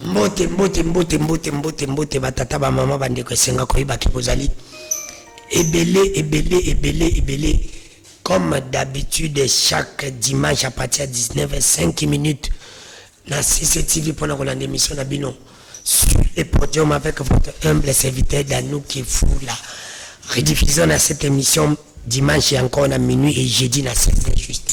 Mbote, mbote, mbote, mbote, mbote, mbote, batata, bamama, bandeko, esenga koyeba ke bozali ebele, ebele, ebele, ebele. Comme d'habitude, chaque dimanche à partir ya 19 5 minutes na CCTV mpo na kolanda émission na bino sur le podium avec votre humble serviteur Danou Kefula. Rediffusion na cette émission dimanche encore na minuit et jeudi na 16 juste.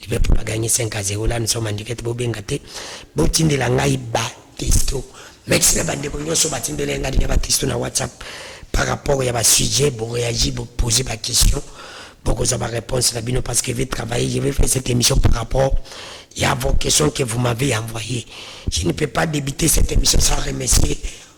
liverpool agangi 5 a 0 lani soma ndike te bobenga te botindela ngai batesto mexi na bandeko nyonso batindela ngai ya batesto na whatsapp par rapport ya basujet boreagi bopose baquestion bokozwa baréponse na bino parce que je vais travailler je vais faire cette émission par rapport ya vos questions que vous m'avez envoyé je ne peux pas débiter cette émission sans remercier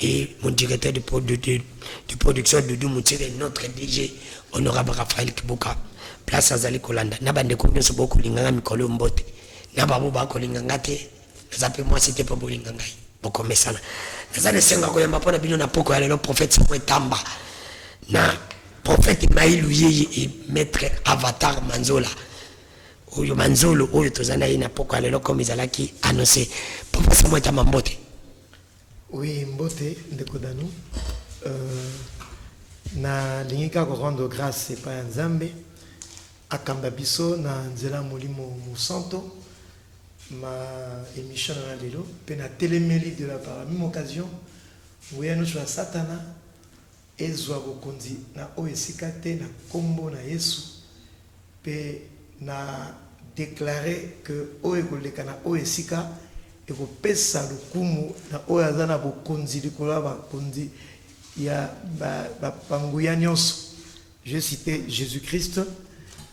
et mon directeur de, de, de, de production Doudou Moutsire, notre DG, honorable Raphaël Kibuka, place azali kolanda na bandeko nyonso bokolinga nga mikolo yo mbote na babo bakolinga nga te naza mpe mwasi te mpo bolinga ngai bokomesana naza na esengo ya koyamba mpo na bino na poko ya lelo prophète soko etamba na prophète mailu yeye e maître avatar manzola oyo manzolo oyo toza na ye na poko ya lelo comme ezalaki annonce prophète soko etamba mbote Oui mbote ndeko Danu, na lingi kaka ko rendre grace epai ya Nzambe akamba biso na nzela ya Molimo Mosanto ma emission na lelo pe na telemeli de la par la meme occasion nguya nionso ya satana Ezwa bokonzi na oyo esika te na kombo na Yesu pe na declare que oyo ekoleka na oyo esika ekopesa lokumu na oyo aza na bokonzi likolo ya bakonzi ya ba nguya nionso, je cite Jesus-Christ.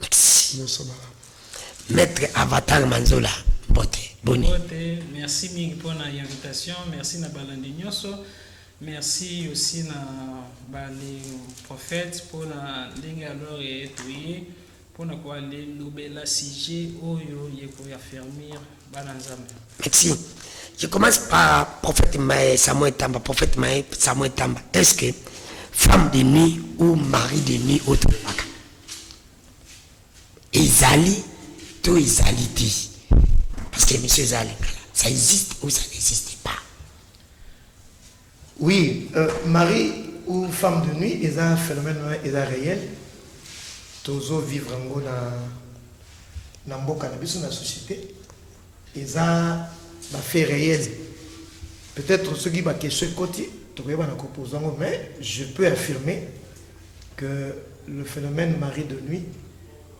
Merci. Nyonso malamu. Maitre Avatar Manzola, mbote. Boni? Mbote, merci mingi mpo na invitation. Merci na balandi nyonso. Merci aussi na bale prophète mpo na ndenge alors eye toye mpo na kolobela sujet oyo ye koaffermir bana Nzambe. Merci. Je commence par prophète Maé Samuel Tamba. Prophète Maé Samuel Tamba. Est-ce que femme de nuit ou mari de nuit ou tout le Ezali to ezali te? Parce que emission eza ya lingala. Ça existe ou ça n'existe pas? Oui, euh, Marie ou femme de nuit eza phénomène wana eza réel. Tozo vivre yango na na mboka na biso na société. Eza ba fait réel. Peut-être soki ba question ekoti tokoyeba na kopose yango mais je peux affirmer que le phenomène mari de nuit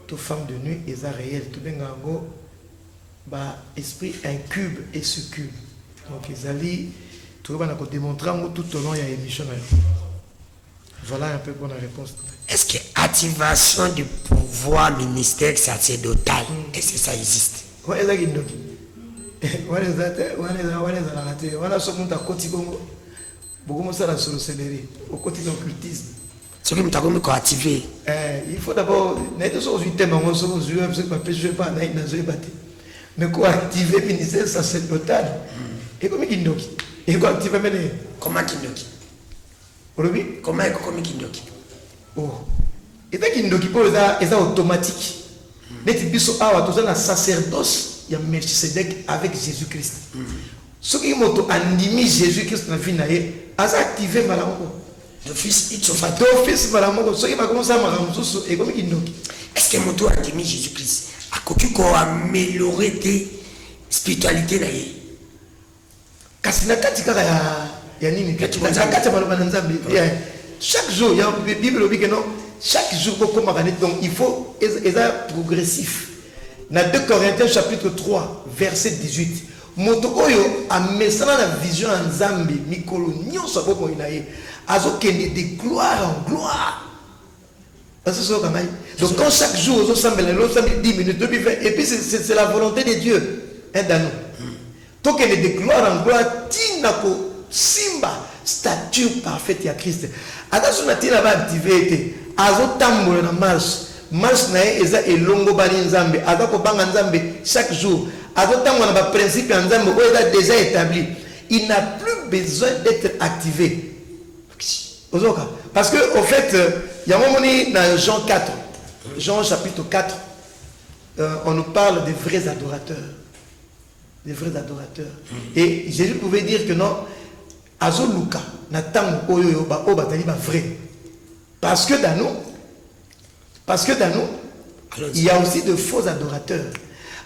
to femme de nuit eza reel tobenga yango ba esprit incube et succube donc ezali toyeba na ko demontre yango tout au long ya emission na yo voilà un peu pour la réponse est-ce que activation du pouvoir du mystère sacerdotal mm. est-ce que ça existe ouais eza kindoki wana eza te wana eza wana ezalaka te wana so moto akoti bongo Bokomi osala sorcellerie, okoti na occultisme. soki moto akomi koactive Eh, il faut d'abord naye te soki ozwi teme yango soki ozwi wapi soki bapesi yo epa nayi nazoyeba te mais koactive ministère sacerdotal ekomi kindoki ekoactive mene koma kindoki olobi koma ekokomi kindoki Oh eza kindoki oyo eza eza automatique neti biso awa toza na sacerdoce ya Melchisedec avec Jesus Christ soki moto andimi Jesus Christ na vie na ye aza active mbala moko d'office ipso facto d'office mbala moko soki bakomosala makambo mosusu ekomi kindoki est ce que moto andimi Jesus Christ akoki ko améliorer te spiritualité na ye Kasi na kati kaka ya ya nini? Kati na kati ya maloba na Nzambe. Yeah. Chaque jour ya Bible lobi que non chaque jour ko koma kanit donc il faut eza progressif. Na 2 Corinthiens chapitre 3 verset 18 moto oyo amesana na vision ya Nzambe mikolo nyonso ya bomoi na ye azokende de gloire en gloire Bazo zoka ngai donc quand chaque jour ozo sambela lelo osambeli 10 minutes lobi 20 et puis c'est la volonté de Dieu hein Dano hmm. tokende de gloire en gloire tina ko simba stature parfaite ya Christ ata so na tina ba activer ete azo tambola na marche marche na ye eza elongo bali nzambe aza kobanga nzambe chaque jour azo tango na ba principe ya nzambe oyo eza déjà établi il n'a plus besoin d'être activé Ozoka parce que au fait yango moni na Jean 4 Jean chapitre 4 euh, on nous parle des vrais adorateurs des vrais adorateurs mm. et Jésus pouvait dire que non azoluka na ntango oyo oyo bazali ba vrai parce que dans nous Parce que dans nous, Alors, il y a aussi de faux adorateurs.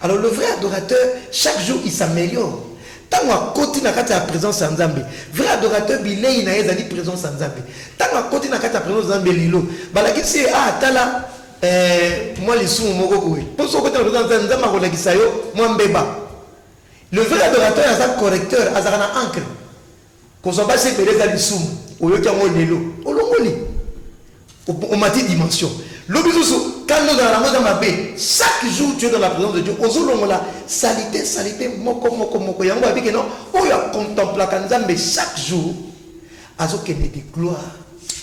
Alors le vrai adorateur, chaque jour, il s'améliore. ntango akoti na kati ya présence ya nzambe vrai adorateur bilei na ye ezali présence ya nzambe ntango akoti na kati ya présence ya nzambe lilo balakisi ye ah tala eh, mwa lisumu moko boye mpo soki okoti na présence ya nzambe akolakisa yo mwa mbeba le vrai adorateur aza correcteur azalaka na ancre Kozwa basi ebele eza lisumu. Oyoki yango lelo, olongoli. Omati dimension. Lobi lisusu, kanda ozala nango eza mabe. Chaque jour tu es dans la présence de Dieu, ozo longola salite, salite moko moko moko. Yango babi ke non, oyo a contemplaka Nzambe chaque jour, azo kende de gloire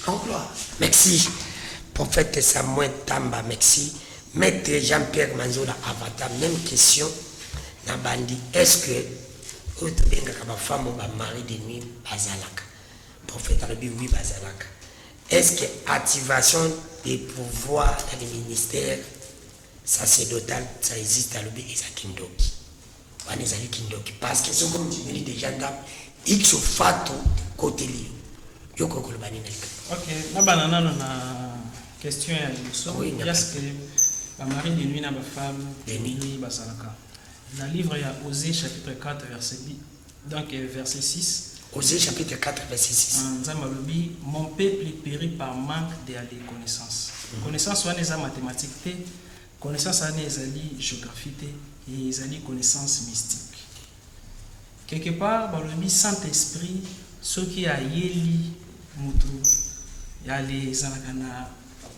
en gloire. Merci. Prophète Samuel Tamba, merci. Maître Jean-Pierre Manzola Avata, même question. Nabandi, est-ce que Oyo tobengaka ba femme ba mari de nuit bazalaka? Prophète alobi oui bazalaka. Est ce que activation de pouvoir na de ministère sacerdotal ça existe alobi eza kindoki. Wana ezali kindoki parce que soki omindimeli deja ndako x fatu koteli yo yo ko koloba nini na likambo. Ok, na bana nano na question ya liboso. Oui, na Est ce que ba mari de nuit na ba femme de nuit bazalaka? Na livre ya Osee chapitre 4 verset 10, donc euh, verset 6. Osee chapitre 4 verset 6. Ah, Nzambe alobi mon peuple peri par manque de aller connaissance. Mhm. Connaissance wana eza mathématique te, connaissance wana ezali géographie te, et ezali connaissance mystique. Quelque part balobi Saint-Esprit soki ayeli mutu yale ezalaka na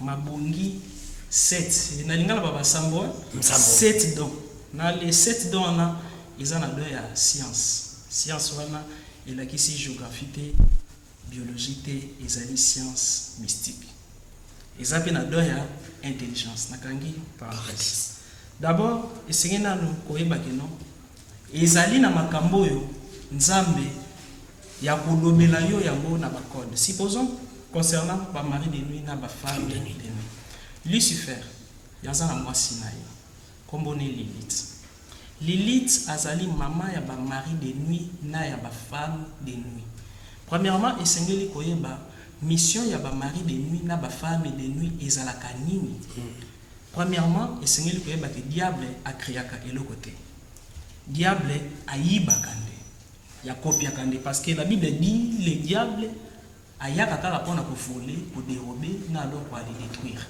Mabongi sept na lingala ba ba sambo hein sept don na les sept don wana eza na don ya science science wana elakisi geographie te biologie te ezali science mystique eza pe na don ya intelligence na kangi parenthèse d'abord esengeli nanu koyeba que non Ezali na makambo oyo Nzambe ya ko lobela yo yango na ba codes. Supposons concernant ba maris de nuit na ba femmes de nuit. Lucifer ya za na mwasi na ye kombo ne Lilith. Lilith azali maman ya ba maris de nuit na ya ba femmes de nuit. Premièrement esengeli koyeba mission ya ba maris de nuit na ba femmes de nuit ezalaka nini? Premièrement, esengeli koyeba que diable a creaka eloko te. Diable ayibaka nde, ya copiaka nde parce que la bible dit le diable ayaka kaka pona ko voler, ko derober na alors ko aller detruire.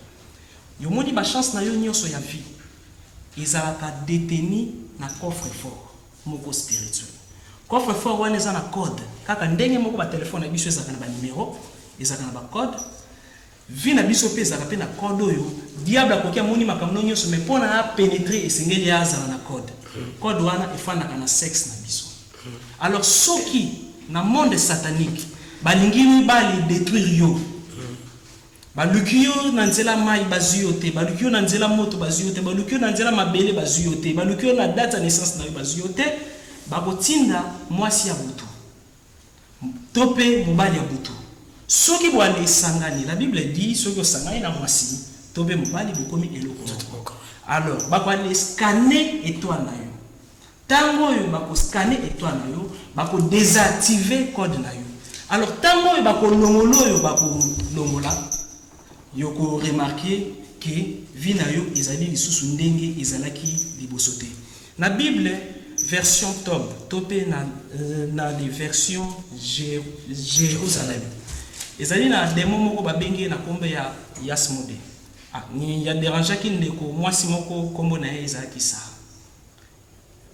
Yo omoni ba chances na yo nionso ya vie ezalaka detenu na coffre fort moko spirituel. Coffre fort wana eza na code kaka ndenge moko ba telephones na biso ezalaka na ba numeros, ezalaka na ba codes. Vie na biso pe ezalaka pe na code oyo diable akoki amoni makambo no nioso mais pona a penetre esengeli azala na code code wana efandaka na sex na biso alors soki na monde satanique balingi mibali detruire yo baluki yo na nzela mayi bazui yo te baluki yo na nzela moto bazui yo te baluki yo na nzela mabele bazui yo te baluki yo na date ya naissance na yo bazui yo te bakotinda muasi ya butu To pe mobali ya butu. Soki boane esangani, la bible dit, soki osangani na mwasi to pe mobali bokomi eloko moko. Alors ba ko ale scanner etoile na yo. Tango oyo ba ko scanner etoile na yo, ba ko desactiver code na yo. Alors tango oyo ba ko longola oyo ba ko longola, y oko remarquer que vie na yo ezali lisusu ndenge ezalaki liboso te. Na Bible, version Tob, to mpe na, na the version Jerusalem, ezali na demon moko babengi ye na nkombo ya Yasmode. Ah, ni, a derangeaki ndeko mwasi moko, nkombo na ye ezalaki Sara.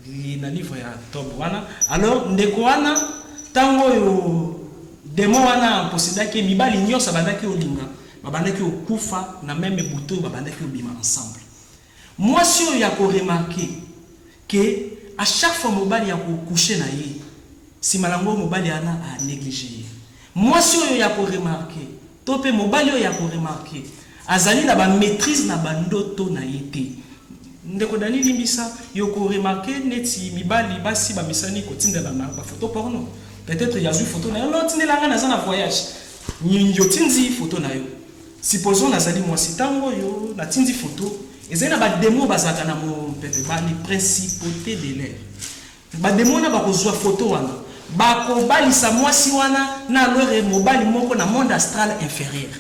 Li, na livre ya Tob wana. Alors, ndeko wana, ntango oyo demon wana aposedaki ye, mibali nyonso abandaki olinga, babandaki okufa na meme butu oyo babandaki obima ensemble. Mwasi oyo ako remarquer que à chaque fois mobali ako coucher na ye, sima nango mobali wana a negliger ye. Mwasi oyo yako remarquer to pe mobali oyo yako remarquer azali na ba maitrise na ba ndoto na ye te. Ndeko Danny limbisa, ye oko remarquer neti mibali, basi ba mesani ko tindelana ba photos porno. Peut-etre ye azui photo na yo, non tindela nga naza na voyage. Niongi otindi photo na yo. Supposons nazali mwasi tango oyo na tindi photo ezali na ba demon bazalaka na mompepe ba les principautes de l'air ba demon wana bako zua photo wana bako balisa mwasi wana na alore mobali moko na monde astral inferieur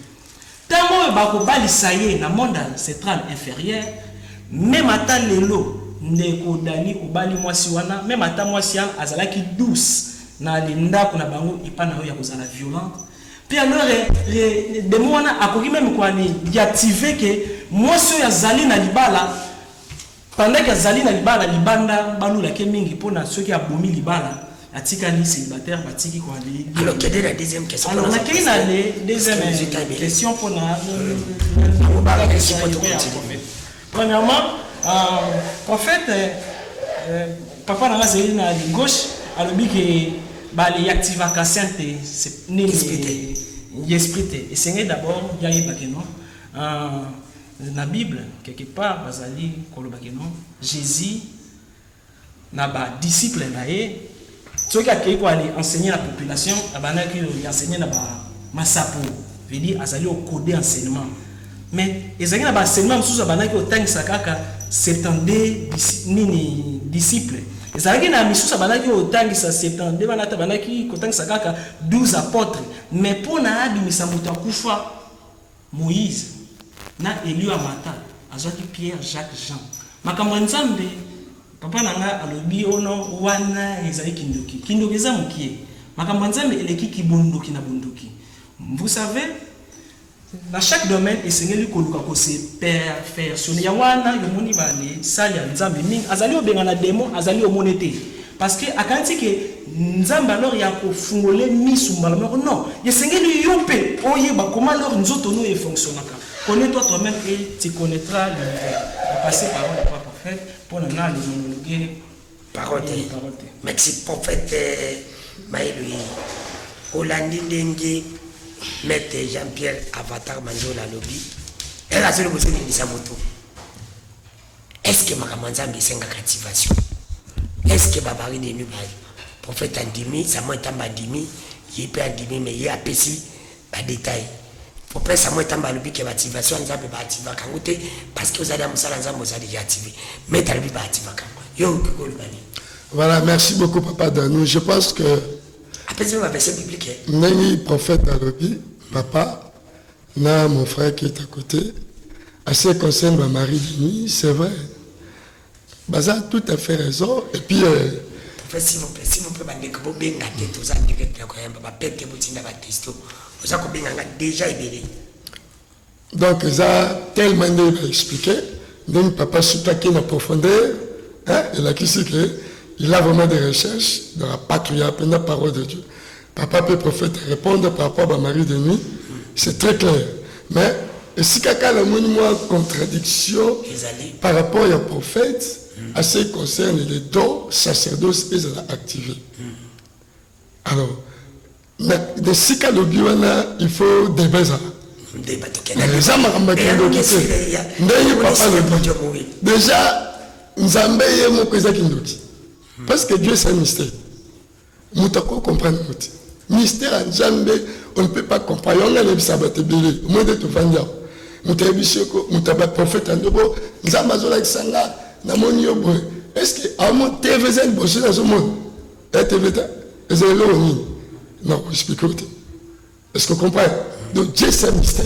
tango oyo bako balisa ye na monde ancetral inferieur meme ata lelo ndeko Dany obali mwasi wana meme ata mwasi wana azalaki douce na le ndako na bango epa na yo ya kozala violente Mpe alors eh, le, le demo wana akoki meme koani yative ke mwasi oyo azali na libala pendant ke azali na libala libanda balula ke mingi mpo na soki abomi libala atikali célibataire batiki koali alors kede na deuxième question alors nakei na le deuxième question mpo na euh, euh, euh, Premièrement, euh, en fait, euh, euh, papa nanga azali na gauche alobi ke bale activaka saint te c'est- nini Esprit te. ya esprit te esengeli d'abord ya yeba ke non euh, na bible quelque part bazali koloba ke non jésus na ba disciples na ye soki akeyi ko aller enseigner na population abandaki ko enseigner na ba masapo veut dire azali ko coder enseignement mais ezalaki na ba enseignements mosusu abandaki kotangisa kaka 72 nini disciples ezalaki na misusu abandaki kotangisa 72 wana ata abandaki kotangisa kaka 12 apotres mais mpo na abimisa moto akufa Moïse na Eliu amata azwaki Pierre Jacques Jean makambo ya nzambe papa na nga alobi oh non wana ezali kindoki kindoki eza mukie makambo ya nzambe eleki ki bondoki na bondoki vous savez na chaque domaine esengeli koluka ko se perfectionner ya wana yomoni ba sali ya nzambe mingi azali obenga na demon azali omone te Parce que akanisi que nzambe alors ya ko fungole misu mbala moko non esengeli yo pe oyeba comment alors nzoto no e fonctionaka connais toi toi meme et tu connaitras l'univers na passe parole ya papa prophète pona na le monologue parole te parole te merci prophète euh, mayeloyi olandi ndenge maître jean pierre avatar manzola alobi ela azoli bozoningisa moto Est ce que makambo ya Nzambe esengaka activation? Est ce que ba mari de nuit ba prophète andimi, Samuel Tamba andimi, ye pe andimi mais ye apesi ba detail. Prophète Samuel Tamba alobi que ba activation ya Nzambe ba activaka yango te parce que ozali ya mosala ya Nzambe oza dejà activer. Maître alobi ba activaka yango. Yo okoki koloba nini? Voilà, merci beaucoup papa Danou. Je pense que apesi ba verset biblique. Ndenge prophète alobi papa Na mon frère qui est à côté, à ce qui concerne ma Marie Denis, c'est vrai. Baza tout à fait raison. Et puis. Euh, s'il vous plaît, s'il vous plaît, bandeko, bobenga te, toza direct ya koyamba, bapete botinda ba testo, oza kobenga nga déjà ebele. Donc, eza tellement nde ba expliquer, ndenge papa sutaki na profondeur, hein, elakisi que il a vraiment des recherches dans la patria, pena parole de Dieu. Papa pe prophète a repondre par rapport ba mari de nuit, c'est très clair. Mais esika kaka namoni mwa contradiction par rapport ya prophète à ce qui concerne les dons sacerdoce ezala activé. Alors na esika lobi wana il faut débat ezala eza makambo akindoki te ndenge papa lobi déjà nzambe ye moko eza kindoki parce que dieu c'est un mystère Moto akoki ko comprendre ngo te. Mystère ya Nzambe on ne peut pas comprendre. Yango ngai nayebisa bato ebele. Omoni nde tovandi awa. Moto ayebisi yo ko moto ya ba prophète yango bo Nzambe azolakisa nga namoni yo boye. Est-ce que amo TV eza liboso nazomona? Ya TV ta eza eloko nini? Nako expliquer yo te. Est-ce que comprendre? Donc Dieu c'est un mystère.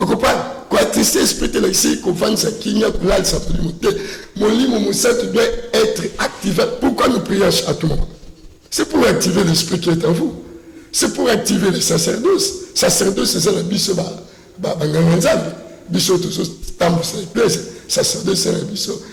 Okopa kwa tristesse peut être ici ko vanisa kimia ko lalisa molimo te molimo mosatu doit être activé pourquoi nous prions à tout moment c'est pour activer l'esprit qui est en vous c'est pour activer les sacerdoce sacerdoce eza na biso ba ba banganga nzambe biso tozo tambusa eglise sacerdoce eza na biso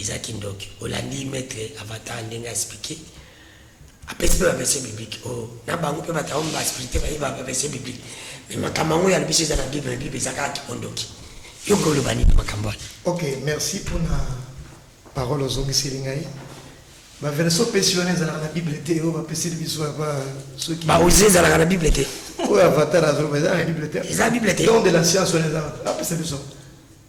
Eza kindoki olandi maitre avatar ndenge a explique apesi pe ba verse biblique oyo na bango pe batu yango ba spirite baye ba verse biblique mais makambo yango ya lobiso eza na bible na bible eza kaka kikondoki yo ko oloba nini makambo wana ok merci mpona parole ozongiseli ngai baverse opesi wana ezalaka na bible te oyo bapeseli biso yaba soki baozi ezalaka na bible te oyo avatar azoloba eza na bible te eza bible te don de la science wana eza apesa biso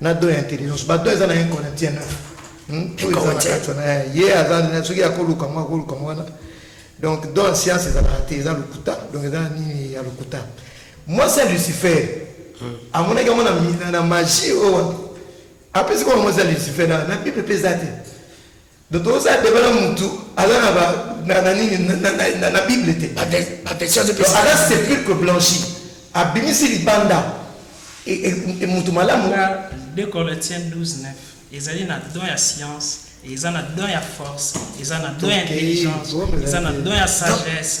na don ya intelligence ba don eza na 1 corinthiens 9 hmm? oyo eza na kati wana eh, ye aza soki akoluka mwa akoluka mwa wana donc don ya science ezalaka te eza lokuta donc eza na nini ya lokuta mwasi ya lucifer hmm. amonaki yango na magie oyo apesi kaka mwasi ya lucifer na bible mpe eza te Donc tokosala debat na mutu aza na ba na na nini na na na na bible te Ba vers- ba version azo Donc pesa. aza sepulcre blanchi abimisi libanda e- e- e- mutu malamu Nga, 2 Corinthiens 12, 9. Ezali na don ya science, eza na don ya force, eza na don ya Tokei, intelligence, bongo eza na ezali te. don ya sagesse,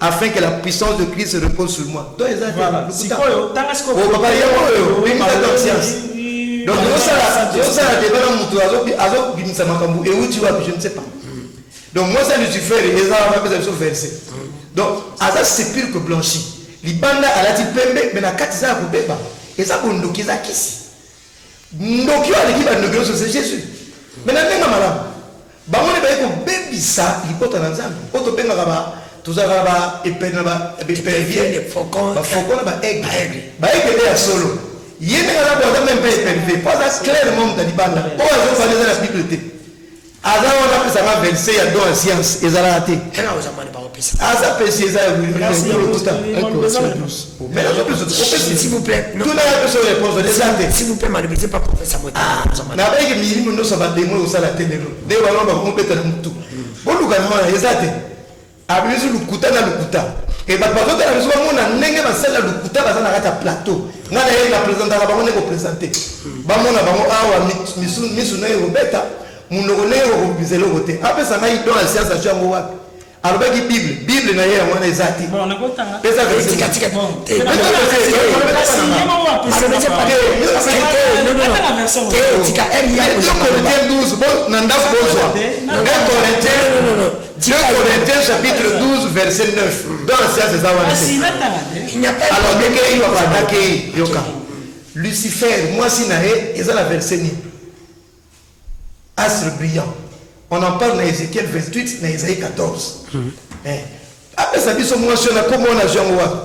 afin que la puissance de Christ repose sur moi. Donc, eza voilà. Sikoyo, tanga sikoyo. Oh, papa, yo, yo, mimi ta conscience. Donc, yo sala, yo sala débat na mutu, azo, azo, bimisa makambu, et où tu vas, je ne sais pas. Donc, moi, ça, Lucifer, et ça, on va faire ça, verset. Donc, aza sépulcre blanchi. Libanda, alati pembe, mais na kati, ça, akobeba. Et ça, kondoki, eza kisi. Ndoki oyo aleki ba ndoki nioso c'est Jesus mais na benga malamu bango nde baye ko bebisa libota na nzambe oyo to bengaka ba tozalaka na ba epene na ba epervier ba faucon na ba aigle ba aigle nde ya solo ye nde aza boza meme pe epervier po aza clairement mutu ya libanda oyo azo fanda eza na bible te aza wana apesa nga 25 ya don ya science ezalaka te aza pesi eza nabayeke milimo nyonso bademo ekosala te lelo nde bango bakobeta na motu bolukana wana eza te Abimisi lokuta na lokuta et bato bazotala biso bamona ndenge basali na lokuta baza na kati ya plateau ngai na ye na presentaka bango ndenge kopresente bamona bango awa misu na ye kobeta monoko ndenge kokobisa eloko te apesa ngai don ya sianse atyo yango wapi alobaki bible bible na ye yango wana eza te na ndako bozwa Deux Corinthiens chapitre 12 verset 9 dans la science eza wana te alors ndenge ye abandaki yoka lucifer mwasi na ye eza na verset nini astre brillant on en parle na ezekiel 28 na esaïe 14 apesa biso mwasi wana kombo wana azwi yango wapi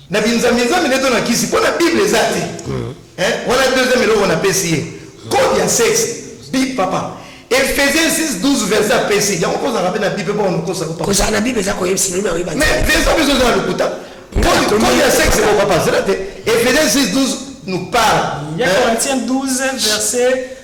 na binzambinzambi nde to na kisi mpo na bible eza te mm. eh, wana deuxième eloko napesi ye code ya sexe bi papa efesien 6 12 verset apesi yango kozalaka mpe na bible mpo onokosa kozala na bible eza koyebisa nini oyebi mais verset biso eza na lokuta code ya sexe po papa zela te efesien 6 12 nous parle Corinthiens 12 verset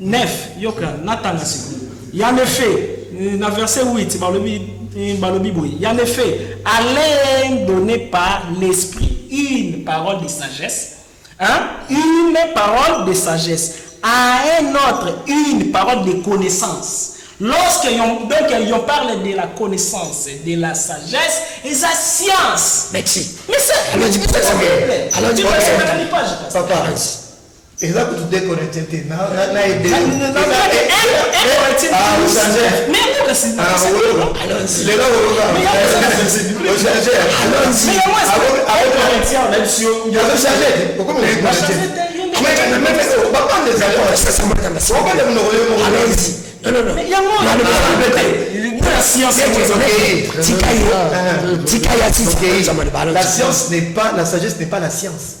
9 yoka natanga sikoyo ya nefe eh, na verse 8 balobi eh, balobi boye ya nefe alain donné par l'esprit une parole de sagesse hein? une parole de sagesse à un autre une parole de connaissance lorsque yon, donc yon parle de la connaissance de la sagesse eza science merci mais ça alors tu peux ça alors tu peux ça papa Eza kutu decorated te na na na ebe. Tika ya sisi. La science n'est pas la sagesse n'est pas la science.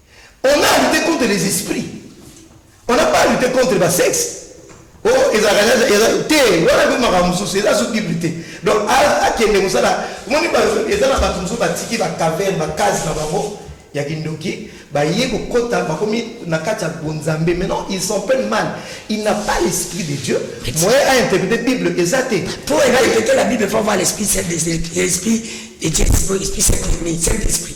On a lute contre les esprits. On n'a pas lute contre ba sexe. Oh, ezalaka eza eza te wana pe makambo mosusu eza so bible te donc akende kosala omoni eza na bato mosusu batiki bacaverne bacase na bango ya kindoki baye kokɔta bakomi na kati ya bonzambe maintenant ils sont peine mal il n'a pas l'esprit de dieu moyen a interprété bible eza te po ena interprété la bible faut avoir l'esprit saint de l'esprit de dieu esprit saint esprit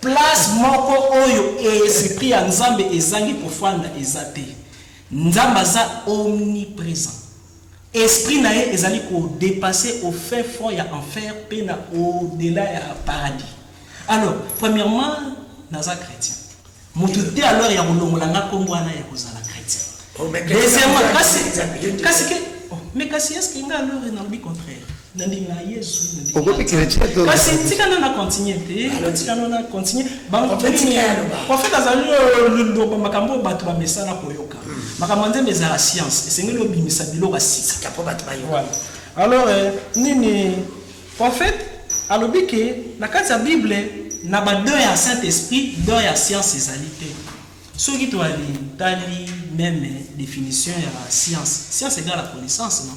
Place moko oyo esprit ya nzambe ezangi kofanda eza te. Nzambe aza omnipresent. Esprit na ye ezali ko depasser au fin fond ya enfer pe na au dela ya paradis. Alors, premièrement, naza chretien. Mutu te alors ya kolongola nga kombo wana ya kozala chretien. Deuxièmement, kasi, kasi ke, oh, mais kasi est-ce que nga alors nalobi contraire? nandima yesu okomi chrétien to kasi tikana na continue te ah, tikana na continue bangoprofete azali euh, loloba makambo oyo bato bamesana koyoka hmm. makambo ya nzembe ezala science esengeli obimisa biloko ya sika mpo bato bayoka alors euh, nini profete alobi ke na kati ya bible na badeur ya saint esprit deur ya science ezali te soki toalitali meme définition ya science science egala connaissance non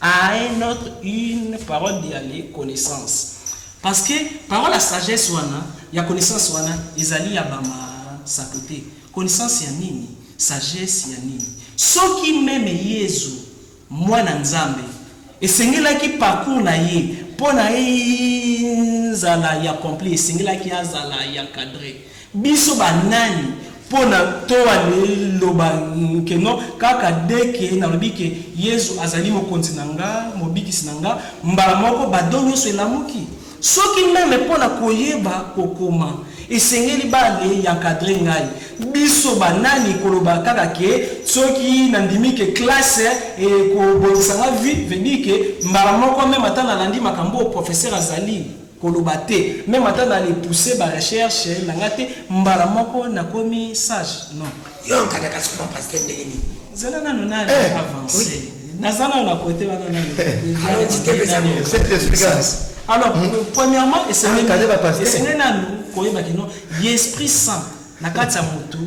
A un autre une parole de ya le connaissance parce que parole ya sagesse wana ya connaissance wana ezali ya ba ma sapo te connaissance ya nini sagesse ya nini soki meme yezu mwana nzambe esengelaki parcours na ye pona ezala ya complet esengelaki azala ya cadre Biso ba nani pona toa liloba nke no, kaka de ke nalobi ke Yezu azali mokonzi na nga, mobikisi na nga, mbala moko bado nyoso elamuki. Soki meme pona koyeba kokoma, esengeli ba le y'encadre ngai. Biso ba nani koloba kaka ke soki na ndimi ke classe ekobongisa nga vie, veut dire ke mbala moko meme ata nalandi makambo oyo professeur azali, koloba te meme ata na le pousser ba recherche na nga te mbala moko na komi sage non. Yo okangaka souvent pasteur ndenge nini? Zela nanu na avancer naza nanu na cote wana nanu cette explication alors hmm. premièrement esengeli ah, nanu koyeba kino ye esprit saint na kati ya motu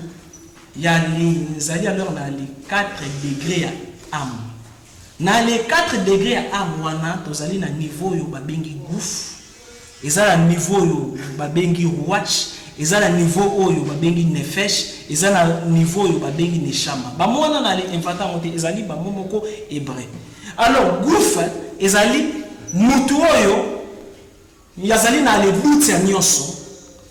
ya linzali alors na le 4 degré ya ame Na les quatre degres ya art wana tozali na niveau oyo babengi gouff, eza na niveau oyo babengi rouach, eza na niveau oyo babengi nefesh, eza na niveau oyo babengi neshama. Ba mots wana na le inventa yango te, ezali ba mots moko hebreu. Alors gouff ezali mutu oyo. Ye azali na le doute ya nionso,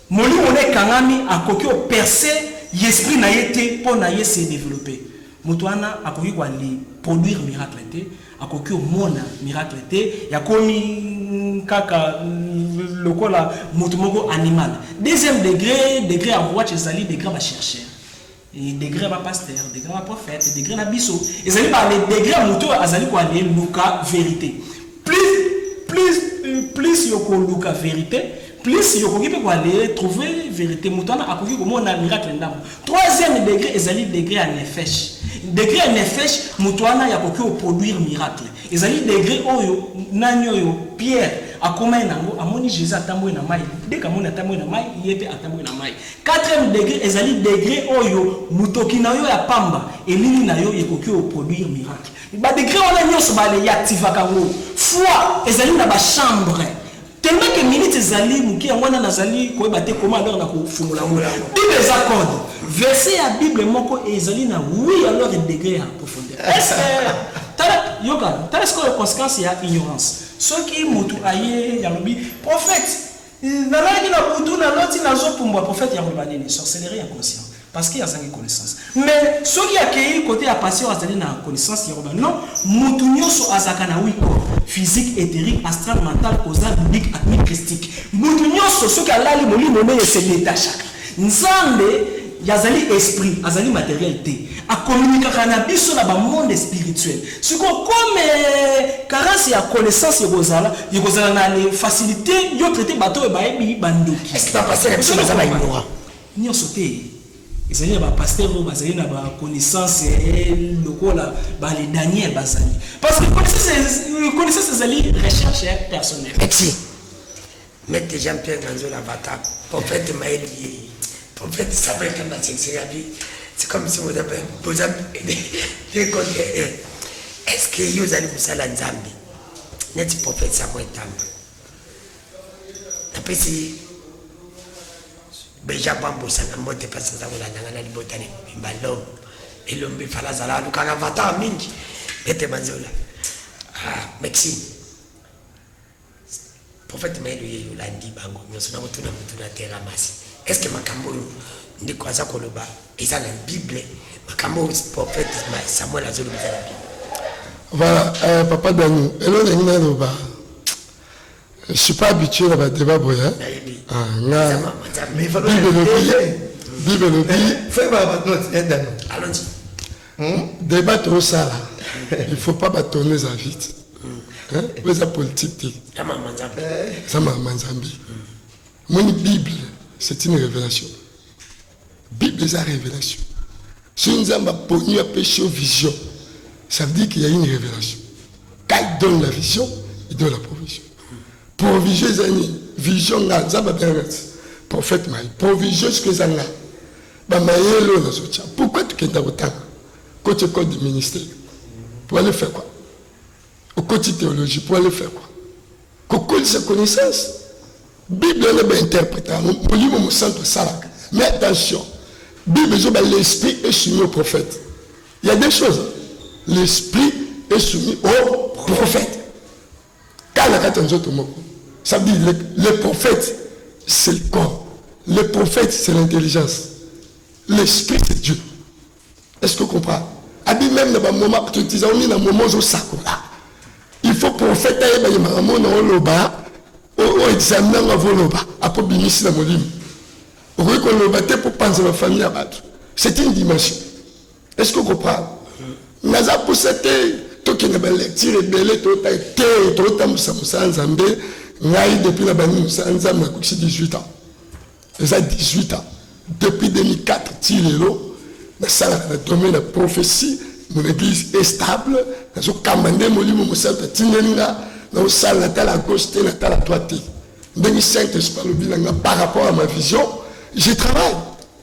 molimo na ekangami, akoki o percer y'esprit na ye te po na ye se developper. Moto wana akoki ko ali produire miracle te, akoki o mona miracle te, y'akomi kaka lokola moto moko animal. Deuxième degre, degre ya Rwach ezali degre ya ba chercheurs. Et degre ba pasteur, degre ba prophète, degre na biso, ezali ba le degre moto azali ko aller luka verite. Plus plus plus yoko luka verite, plus yokoki pe ko aller trouver verite moto wana akoki komona miracle ndambo. Troisième degre ezali degre ya nefesh. Degre ya nefesh moto wana ya koki o produire miracle. Ezali degre oyo nani oyo Pierre akomai nango amoni Jesus atambwe na mai, deka moni atambwe na mai ye pe atambwe na mai. Quatrième degre ezali degre oyo mutoki na yo ya pamba, elili na yo, ekoki o produire miracle. Ba degres wana nionso ba reactivaka yango. Foi ezali na ba chambres. Tellement que minutes ezali muke, yango wana nazali koyeba te comment alors na kofungola yango. Bible eza code. Verset ya Bible moko ezali na oui alors degre ya profondeur. Est ce que tala yoka, tala sikoyo consequence ya ignorance. Soki mutu aye alobi prophète Nalalaki na butu na loti nazo pumbwa prophète ya koloba nini sorcellerie inconscient parce que azangi connaissance mais soki akeyi cote ya pasteur azali na connaissance ya koloba non mutu nioso azalaka na huit corps physique etherique astral mental causal ludique atmique christique mutu nioso soki alali molimo neye se detachaka Nzambe azali esprit, azali materiel te. A communiquaka na biso na ba monde spirituel. Sikoyo comme carence ya connaissance ekozala, ekozala na le facilite yo traiter bato oyo bayebi ba ndoki. Est-ce que ba pasteurs ya biso baza ba ignorants? Nionso te. Ezali na ba pasteurs oyo bazali na ba connaissance lokola ba le Daniel bazali. Parce que connaissance, connaissance ezali recherche personnelle. Merci. Maitre Jean Pierre Manzola Vata, prophète Maël Yeye, prophète Samuel Kamba Tshinsirabi, c'est comme si vous avez, vous avez, des contre, est-ce que yo ozali mosala Nzambe? Neti prophète Samuel Kamba. Napesi Beja Bambo Sanga Mbote pasi naza kolanda nga na libota na mobimba lome elombe fala azala alukaka vata mingi Maitre Manzola. Ah, Maxime. Prophète Mael Oyeyo olandi bango nionso nako tuna mutuna Terra Mas est ce que makambo oyo ndeko aza koloba eza na bible makambo oyo prophète Samuel azo loba eza na bible Voilà, euh, papa Dani, elo na ngina loba. Je suis pas habitué na ba débat boya. Hein? Ah, nga. Mais il faut Bible le dit. Bible le dit. Fais ma note, Dani. Allons-y. Hum, debat tosala il faut pas ba tourner za vite hein oyo eza politique te eza makambo nzambe eza makambo nzambe omoni bible c'est une révélation bible eza révélation soki nzambe aponi apesi yo vision ça veut dire qu'il y a une révélation quand il donne la vision il donne la provision provision eza nini vision nga nzambe abengaka prophète mai provision soki eza nga Ba mayele oyo nazotia pourquoi tukenda kotanga koti ecole du ministère pour aller faire quoi okoti théologie pour aller faire quoi kokolisa connaissance bible wana bainterpreta yango molimo mosantu asalaka mais attention bible ezoba l'esprit est soumis au prophète il y a des choses l'esprit est soumis au prophète kaka na kati ya nzoto moko ça veut dire le, le prophète c'est le corps le prophète c'est l'intelligence l'esprit c'est dieu est ce que comprend abi même na bamoma totizaomi na moma ozosakola il faut prophète ayeba ye makambo na oloba oexamine yango avoloba akobimisi na molimo okoki koloba te mpo panzela famille ya bato c'est une dimension est ce que comprendre naza posa te tokende balecture ebele tota te totambusa mosala nzambe ngai depuis na bandi mosala nzambe nakokisi 18 ans eza 18 ans depuis 2004 ti lelo nasalaka na domaine ya prophétie mon église est stable nazokamba nde molimo mosantu atindeli nga naosala natala gauche te natala droite te ndenge saint esprit alobi na nga par rapport à ma vision je travaille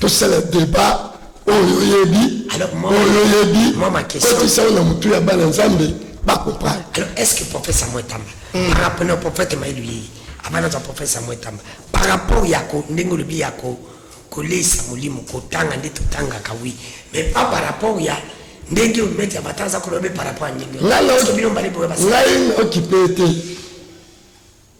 tosala debat oyo oyebi oyo oyebi kotisa oyo na motu ya bana nzambe bakoprendre alors est ce que prophète samuel tamba mm. par rapport na prophète mayilu yeye avant nazwa prophète samuel tamba par rapport ya ko ndenge olobi ya ko koleisa molimo kotanga nde totangaka wi mais pas par rapport ya ndenge omete ya bata aza kolobe par rapport ya ndenge ngai naokipe te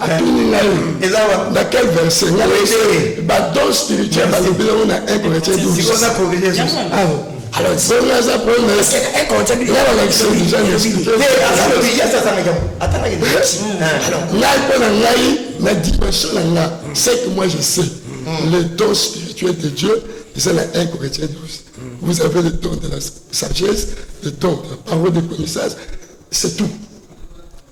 atuni ngai eza na quel verset nga oyebele ba don spirituel balobi nango na 1 corinthiens 12 alors bongo aza problème nga balakisa deja ngai mpo na ngai na dimension na nga ce que moi je sais mm. le don spirituel de dieu eza na 1 corinthiens 12 mm. vous avez le don de la sagesse le don de la parole de connaissance c'est tout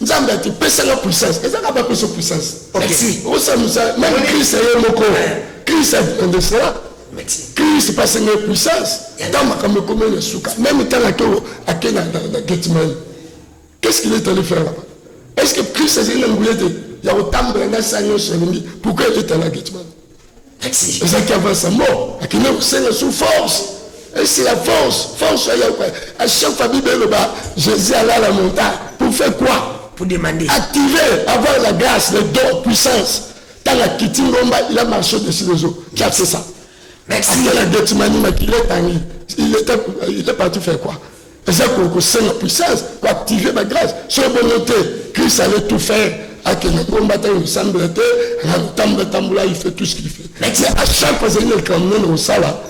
nzambe ati pesa nga puissance eza kaka bapesa puissance osamusa meme krist ye moko krist akonde cela krist pasi nga puissance ntango makambo ekomeli na suka meme ntango ake ake na getmani qu'est ce qu'il est allé faire là-bas est ce que krist azali na nguya te ya kotambola na sa nyonso alingi pourquoi il est allé à getmani Merci. ezalaki avant sa mort akende kosenga sous force esi la force force ya yauka à chaque fois bible eloba jésus ala la monta pour faire quoi pour demander activer avoir la grâce le don puissance ntango akiti ngomba il a marché au-dessus des eaux qui a fait ça merci akela getimani makila etangi il était il est parti faire quoi eza ko kosenga puissance ko activer ba grâce soki bongo te Christ allait tout faire akende ngomba te osambela te akotambola tambola il fait tout ce qu'il fait mais c'est à chaque fois ezali na likambo monene kosala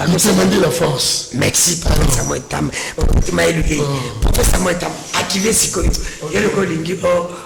motema nde la force merci professeur samuel tam motema eluki professeur samuel tam akile sikoyo yo lokola olingi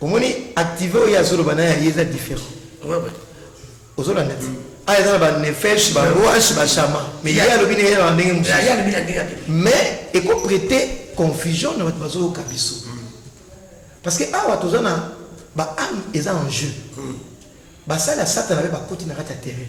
omoni active oyo azoloba naye aye eza différent ozolanda ti aya eza na banefesh baroash bashama mais ye alobi na ye na ndenge mosusu mais ekoprete confusion na bato bazoyoka biso mm. parce que awa toza na baame eza en jeu mm. basali ya satana mpe bakoti na kati ya terrain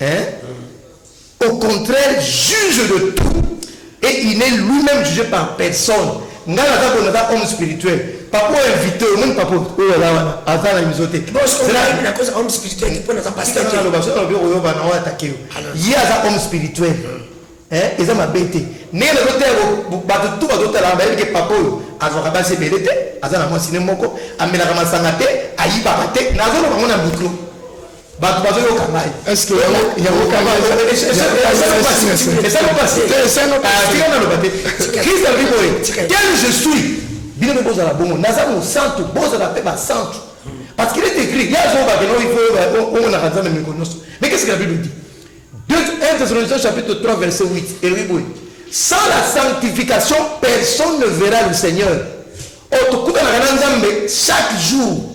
Hein? Au contraire juge de tout et il n'est lui meme juge par personne nga naza boye naza homme spirituel papa oyo invite oyo omoni papa oyo aza wana aza na miso te aloba soki alobi okoyoba na oyo atake yo ye aza homme spirituel eza mabe te ndenge nazotala bato tu bazotala bayebi ke papa oyo azwaka basi ebele te aza na mwasi ne moko amelaka masanga te ayibaka te nazoloba yango na mikro bato bazoyoka ngai naloba te krist alobi boye tel je suis bino mpe bozala bongo naza mosantu bozala mpe basantu parce qu'il est écrit ye azobakena omonaka nzambe meko nyonso mais qu'est ce que la bible dit 1 Thessaloniciens chapitre 3 verset 8 elobi boye sans la sanctification personne ne verra le seigneur oyo tokutanaka na nzambe chaque jour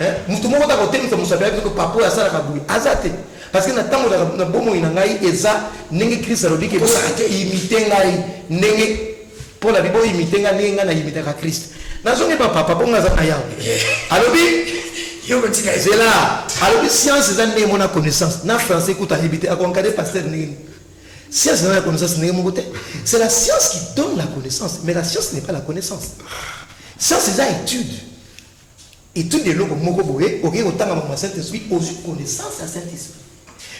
Eh, moto moko ta kotemisa mosapi ya biso papa oyo asalaka boye aza te parce que na ntango na bomoi na ngai eza ndenge krist alobi ke imite ngai ndenge mpo na bibo imite ngai ndenge ngai nayimitaka krist nazongi bapapa mpo ngai aza na yawe alobi zela alobi science eza ndenge mona connaissance na français kuta ayebi te akonkade paster ndenge nini science eza na connaissance ndenge moko te c'est la science qui donne la connaissance mais la science n'est pas la connaissance science eza étude Etude ya eloko moko boye, okeyi kotanga makambo ya Saint Esprit, ozwi connaissance ya Saint Esprit.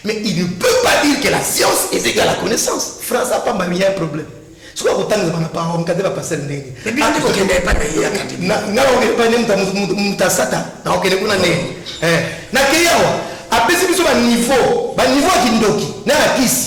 Mais il ne peut pas dire que la science est égale à la connaissance. Français pamba miya problème. soki akotangisa bana pao mkate bapasele ndenge nga okende epai nde moto asata na okende kuna ndenge eh, nakei awa apesi biso baniveau baniveau ya kindoki na na kisi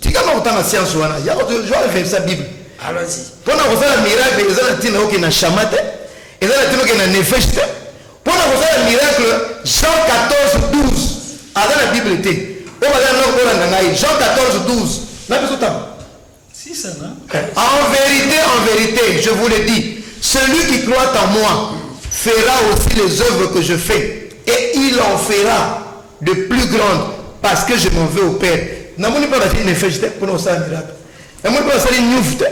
Tika nga kotanga science wana. Yako to joa reversa Bible. Allons-y. Pona kosala miracle eza na tina oke na shama te. Eza na tina oke na nefesh te. Pona kosala miracle Jean 14 12 aza na Bible te. Oyo bazala na kolanda ngai Jean 14 12 na biso tanga. Si ça na. En vérité, en vérité, je vous le dis, celui qui croit en moi fera aussi les œuvres que je fais et il en fera de plus grande parce que je m'en veux au père namoni pe basali nefesh te pona kosala miracle namoni pe basali nuf te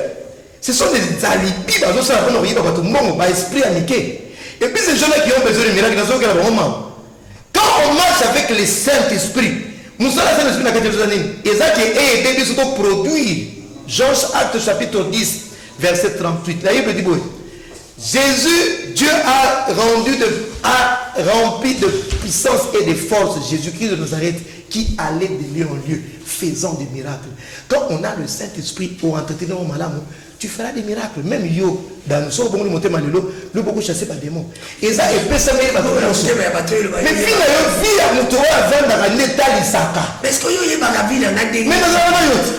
ce sont des alibi bazosala pona koyiba bato mbongo ba esprit ya mike et puis ces gens là qui ont besoin de miracle nazokela bango mawa quand on marche avec le saint esprit mosala saint esprit na kati ezoza nini eza ke eede biso toproduire jean acte chapitre 10 verset 38 la bible dit boye Jesus Dieu a rendu de a rempli de puissance et de force Jesus Christ de Nazareth qui allait de lieu en lieu faisant des miracles quand on a le Saint Esprit au entretenu yango malamu tu feras des miracles même yo dans soki obongoli motema lelo lo boko chasse ba démon eza epesami ye bato nyonso motema ya bato oyo mais vi na yo vi ya moto oyo avandaka nde etalisaka mais sikoyo oyebaka vi na nga ndenge mais nazala na yo te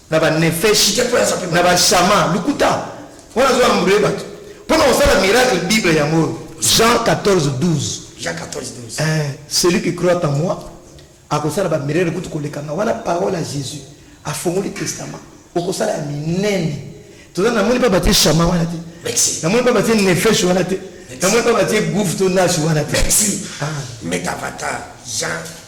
na ba nefeshi na ba shama lukuta wana azo ambre bato pona kosala miracle bible yango oyo jean 14 12 jean 14 12 eh, celui qui croit en moi akosala ba miracle kutu kolekanga wana parole ya jésus afongoli testament okosala ya minene toza namoni mpe batie shama wana te namoni mpe batie nefeshi wana te namoni mpe batie gouve to nashi wana te ah. metavatar jean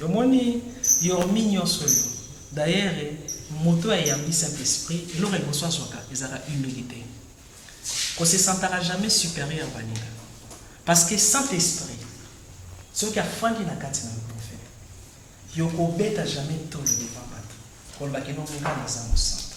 Yo moni Yormi nionso oyo d'ailleurs moto oyo ayambisaka esprit eloko ya liboso azwaka ezalaka humilite ko se sentaka jamais superieur baninga parce que saint esprit soki afandi na kati na yo prophète yo kobeta jamais tolo devant batu koloba ke non nga naza mosantu.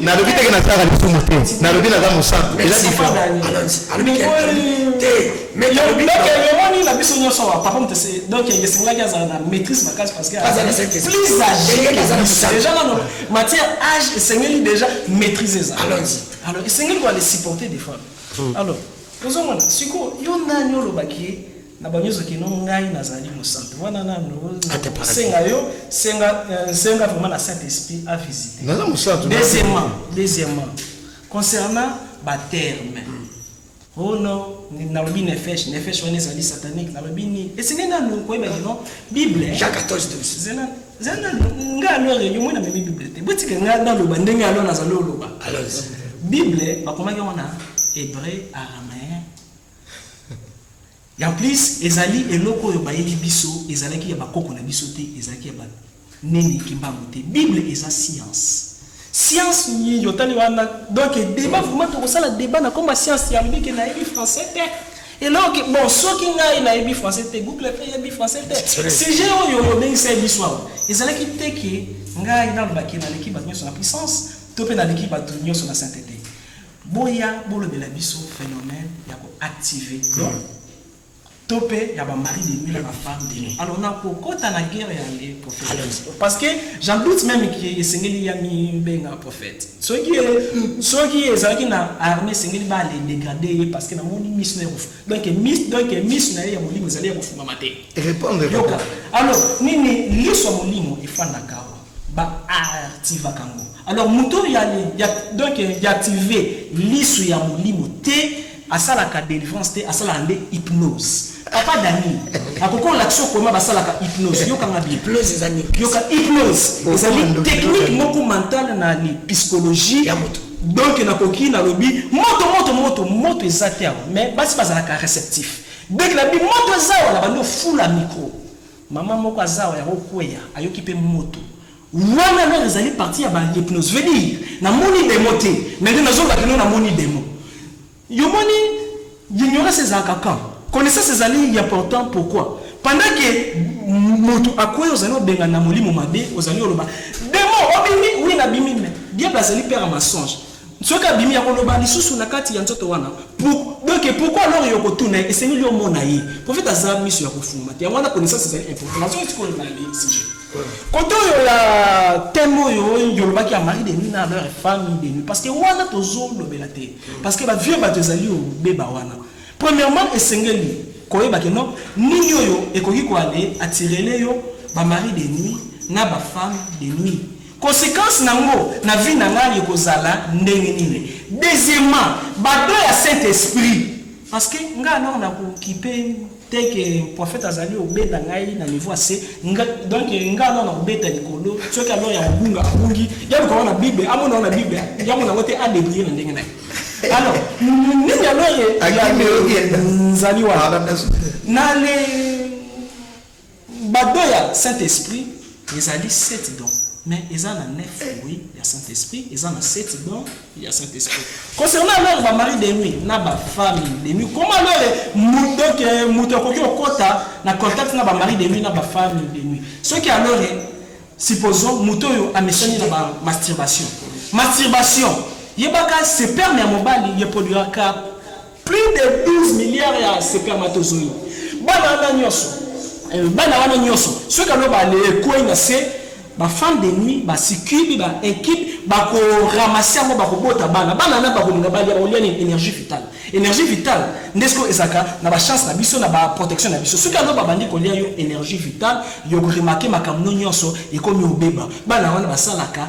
nalobi teke nasalaka lisumu te nalobi naza mosantu eza difereomoni na biso nyonso awa papa moto se donc esengaki azala na maîtrise makasi parce que plus age déjà nano matière age esengeli déjà maîtrise eza alors esengeli koa le supporter des fois hmm. alors ozomona sikoyo yo nani olobaki ye na bango nyonso kino ngai nazali mosantu wana nanu senga yo senga euh, senga vraiment na saint esprit a visiter naza mosantu deuxièmement deuxièmement concernant ba terme hmm. oh non nalobi nefesh nefesh wana ezali satanique nalobi nini esengeli nanu koyeba kino bible hein. jacques 14 zela zela nga alors réunion moi na memi bible te botika nga naloba ndenge alors nazali oloba bible bakomaki yango na hébreu araméen En plus ezali eloko oyo bayeli biso ezalaki ya ba koko na biso te ezalaki ya ba nene kimbangu te bible eza science. Science nini otali wana donc debat vraiment toko sala debat na kombo ya science ya lobi ke na yebi français te eloko ke bon soki ngai na yebi français te google pe yebi français te sujet oyo obengisa ye biso awa ezalaki te ke ngai naloba ke naleki batu nionso na puissance to pe naleki batu nionso na saintete Boya bolobela biso phenomène ya ko active don to pe ya ba mari de nuit na ba femme de nuit alors na ko kota na guerre ya le prophète parce que j'en doute meme que esengeli ya mi benga prophète soki soki ezalaki na armée esengeli ba le degrader ye parce que na moni miss na kofu donc miss donc miss na ye ya molimo ezali ya kofuma mate répondre yoka alors nini liso molimo efanda kawa ba artivaka ngo alors mutu oyo ya ya donc ya active lisu ya molimo te asalaka delivrance te asalaka nde hypnose papa dani akoki olakisa okoma basalaka hypnose yokanga hypnose ezali yoka hypnose ezali technique moko mentale na ni psychologie ya moto donc nakoki nalobi moto moto moto moto eza te awa mais basi bazalaka réceptif dès que nabi moto eza awa na bando fula micro Maman moko aza awa yango kweya ayoki pe moto Wana alors ezali partie ya ba hypnose veut dire na moni demon te mais nde nazo loba kino na moni demon yo moni l'ignorance ezalaka quand connaissance ezali important pourquoi pendant que moto akweya ozali obengana molimo mabe ozali oloba demon obimi oui na bimi mais diable azali père ya mensonge Soki abimi akoloba lisusu na kati ya nzoto wana pour, donc et pourquoi alors yo kotuna ye esengeli omona ye prophète aza miso ya kofungama te yango wana connaissance ezali important nazo esi kolona le sujet kote oyo ya thème oyo yolobaki ya mari de nuit na leur femme de nuit parce que wana tozolobela te parce que ba vieux bato ezali obeba wana premièrement esengeli koyeba ke non nini oyo ekoki koale atirele yo ba mari de nuit na ba femme de nuit Consequence na ngo na vie na nga eko zala ndenge nini? Deuxièmement, ba dons ya Saint Esprit parce que nga alors na ko kipe te que prophète azali ko benda ngai na niveau ya se, nga donc nga alors na ko beta likolo soki alors ya ko bunga a bungi, ya luka wana bible a mona wana bible ya mona ngo te a debrouiller na ndenge na ye. Alors nini alors ya nzali wana? Na le Ba dons ya Saint Esprit ezali sept dons, mais eza na neuf fruits ya Saint Esprit, eza na sept dons ya Saint Esprit. Concernant alors ba maris de nuit na ba femmes de nuit, comment alors donc mutu akoki kokota na contact na ba maris de nuit na ba femmes de nuit? Soki alors supposons mutu oyo amesani na ba masturbation, masturbation yebaka sperme ya mobali e produiraka Plus de 12 milliards ya spermatozoïdes. Bana wana nionso, eh, bana wana nionso, soki alo bale ekwei na se, ba femmes de nuit, ba succubes, ba incubes, bako ramasser yango, bako bota bana. Bana wana bako linga balia, bako lia nini? Energie vitale. Energie vitale, nde siko ezaka na ba chance na biso, na ba protection na biso. Soki alo babandi kolia yo energie vitale, yoko remarquer makambo nionso ekomi obeba. Bana wana basalaka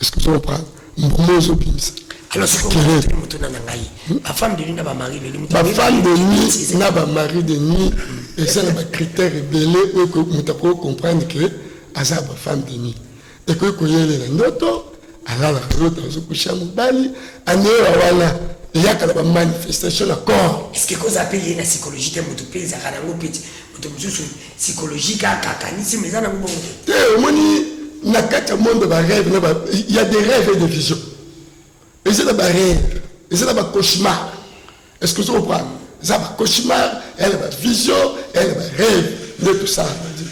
Est-ce que vous comprenez? Mbuma ozo bimisa. Alors c'est que mutuna na ngai. Ba femme de nuit na ba mari de nuit. Ba femme de nuit na ba mari de nuit et ça na ba critères ebele oyo ko muta ko comprendre que aza ba femme de nuit. Et que ko yele na ndoto alala ndoto azo kusha mobali anewa wana eyaka na ba manifestation na corps. Est-ce que ko zape ye na psychologie te mutu pe ezaka na ngo peti mutu mususu psychologique akakanisi mais eza nango bongo te te omoni na kati ya monde ba rêve na ba il y a des rêves et des visions eza na ba rêve eza na ba cauchemar est ce que ozo comprendre eza ba cauchemar eya na ba vision eya na ba rêve nde tosala bandi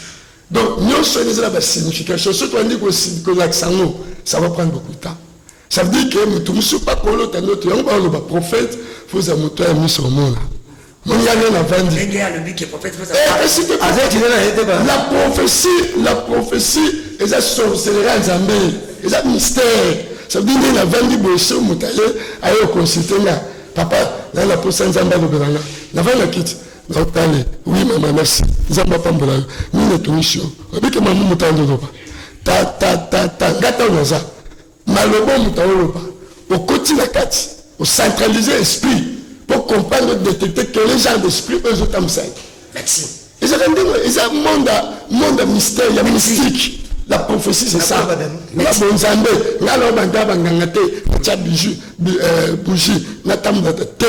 donc nyonso ena eza na ba signification soki toyandi kolakisa yango ça va prendre beaucoup de temps ça veut dire que moto mosusu akolota ndoto yango baoloba prophète fozala moto ya miso omona Muyane na vandi. Ndenge alobi ke prophète pesa. Eh, kasi te. Aza kina na yete ba. La prophétie, la prophétie eza sorcellerie ya Nzambe. Eza mystère. Ça veut dire ndenge na vandi boye so moto aye aye consulter nga. Papa, na na posa Nzambe alobela nga. Na vandi na kiti. Na otale. Oui maman, merci. Nzambe apambola yo. Mine tungisi yo. Obike mamu mutando loba. Ta ta ta ta ngata waza. Maloba oyo moto aoloba, okoti na kati, o centraliser esprit po comprendre, o detecter quelle genre d'esprit oyo ezo tambwisa ye. Merci. Ezaka ndenge, eza monde ya monde ya mystère, ya mystique. La prophétie c'est ça. Na bonzambe, nga na banda ba nganga te, tia bijou, euh, bougie, na tambwa te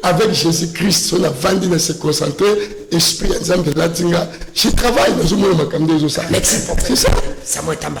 avec Jésus-Christ, so na vandi na se concentrer, esprit ya Nzambe latinga, je travaille, nazo mona makambo ezo ça. Merci. C'est ça. Ça moi tamba.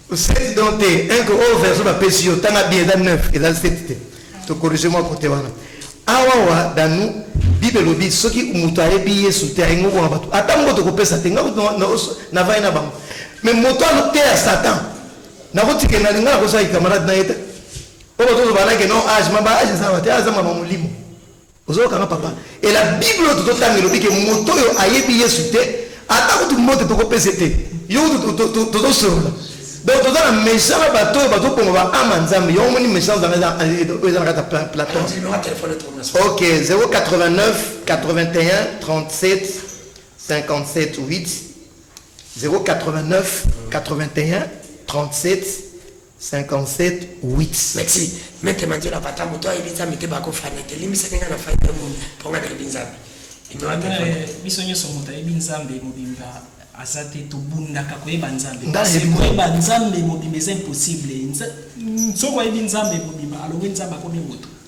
7 donc te un que oyo version bapesi yo tanga bien eza 9 eza 7 te to corrige mwa kote wana awawa danu bible elobi soki moto ayebi yesu te ayengo kona bato ata moko tokopesa te nga navai na bango mais moto aloteya satan nakotika na linga nakozala camarade na ye te oyo bazozobana ke non age ma ba age ezalaka te aza mama molimo Ozoyoka nga papa et la bible oyo tozo tanga elobi ke moto oyo ayebi yesu te ata kutu mbote toko pese te yo kutu tozo solola donc toza na mesa na bato oyo bazo boma ba ama nzambe yo omoni mesa zanga eza oyo eza na kati ya platon ok 089 81 37 57 8 089 81 37 57 huit. Merci maitre Manzela pata moto ayebi nzambe te bako fana te limbisani nga na fani ya mumia po nga nayebi nzambe biso nyonso moto ayebi nzambe mobimba aza te tobundaka koyeba nzambe koyeba nzambe mobimba eza impossible soki oyebi nzambe mobimba alobi nzambe akomi moto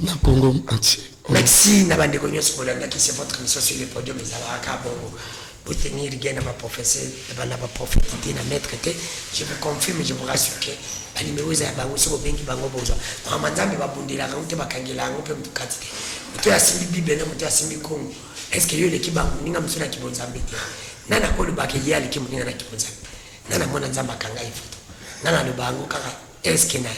na Congo entier. Merci na bandeko nyonso bolandaki c'est votre mission sur le podium ezalaka kaka bongo botenir lien na baprofesseur na baprofete te na maître te je vous confirme je vous rassure que banimero eza ya bango soki obengi bango bozwa mama nzambe babundelaka yango te bakangela yango mpe moto kati te moto oyo asimbi bible na moto oyo asimbi kongo est ce que yo eleki bango moninga mosusu na kibonzambe te nani akolobaka ye aleki moninga na kibonzambe nani amona nzambe akanga ye foto nani aloba yango kaka Est ce que na,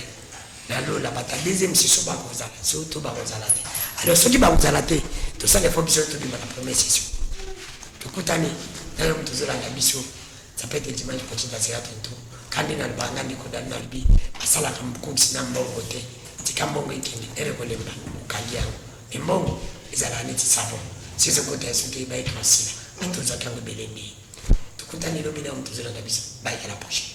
na lola bato ya deuxième section bakozala so to bakozala te? Alors soki bakozala te, tosala efo biso tobima na première section. Tokutani na yo moto ozolanda biso, ça peut être dimanche prochain na zela tonto. Kandi na libanga ndiko dani na lobi asalaka mokokisi na mbongo te, tika mbongo ekende ere kolemba okangi yango. Mais mbongo ezalaka neti savon, sese kota ya soki ebayiki masila, atozaki yango ebele ndeye. Tokutani lobi na yo moto ozolanda biso, bayika la prochaine.